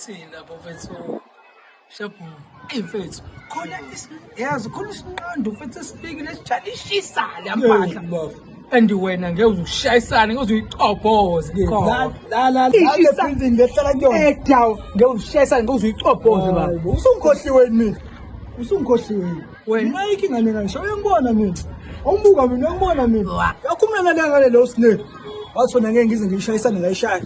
thina bafethu shabu eyi mfethu khona yazi khona isinqondo mfethu esifikile sijale ishisa le mpahla and wena ngeke uzushayisana ngeke uzuyicobhoze ke la la la building lehlala kuyona edaw ngeke uzushayisana ngeke uzuyicobhoze ba usungikhohliwe yini usungikhohliwe wena ayikho ingane kanisha uyangibona mina awumbuka mina uyangibona mina yakhumela la ngale lo snake wathi wena ngeke ngize ngiyishayisane ngayishaya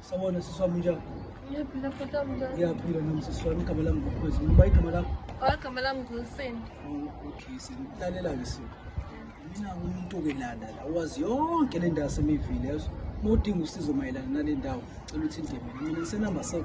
Sabona sisi wami njani? Ngiyaphila futhi amjani. Ngiyaphila nami sisi wami igama lami ngokukhwezi. Ngiba igama lakho. Oh igama lami nguSindi. Oh, okay, senilalela ke sisi. Mina umuntu ke lana la wazi yonke le ndawo semivile yazo. Mudinga usizo mayelana nale ndawo. Cela uthinte mina. Mina senamba 7.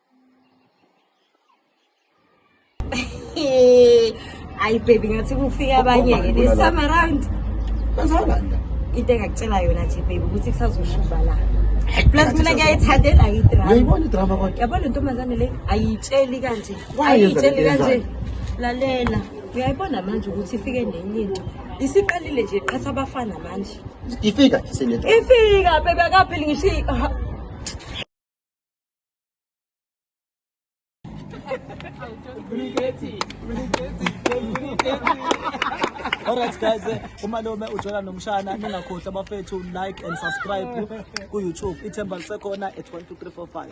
ayi baby ngathi kufika abanye-ke this time around kwenzakalanda into engakutshela yona nje baby ukuthi kusazoshuba la plus mina ngiyayithandela idramayibona idrama kodwa yabona intombazane le ayiyitsheli kanje ayiyitsheli kanje lalela uyayibona manje ukuthi ifike nenye into isiqalile nje qhatha abafana manje ifika ifika bebe akapheli ngisho Alright guys, eh, umalume ujola nomshana ningakhohlwa bafethu like and subscribe ku YouTube. Ithemba lisekhona at 12345.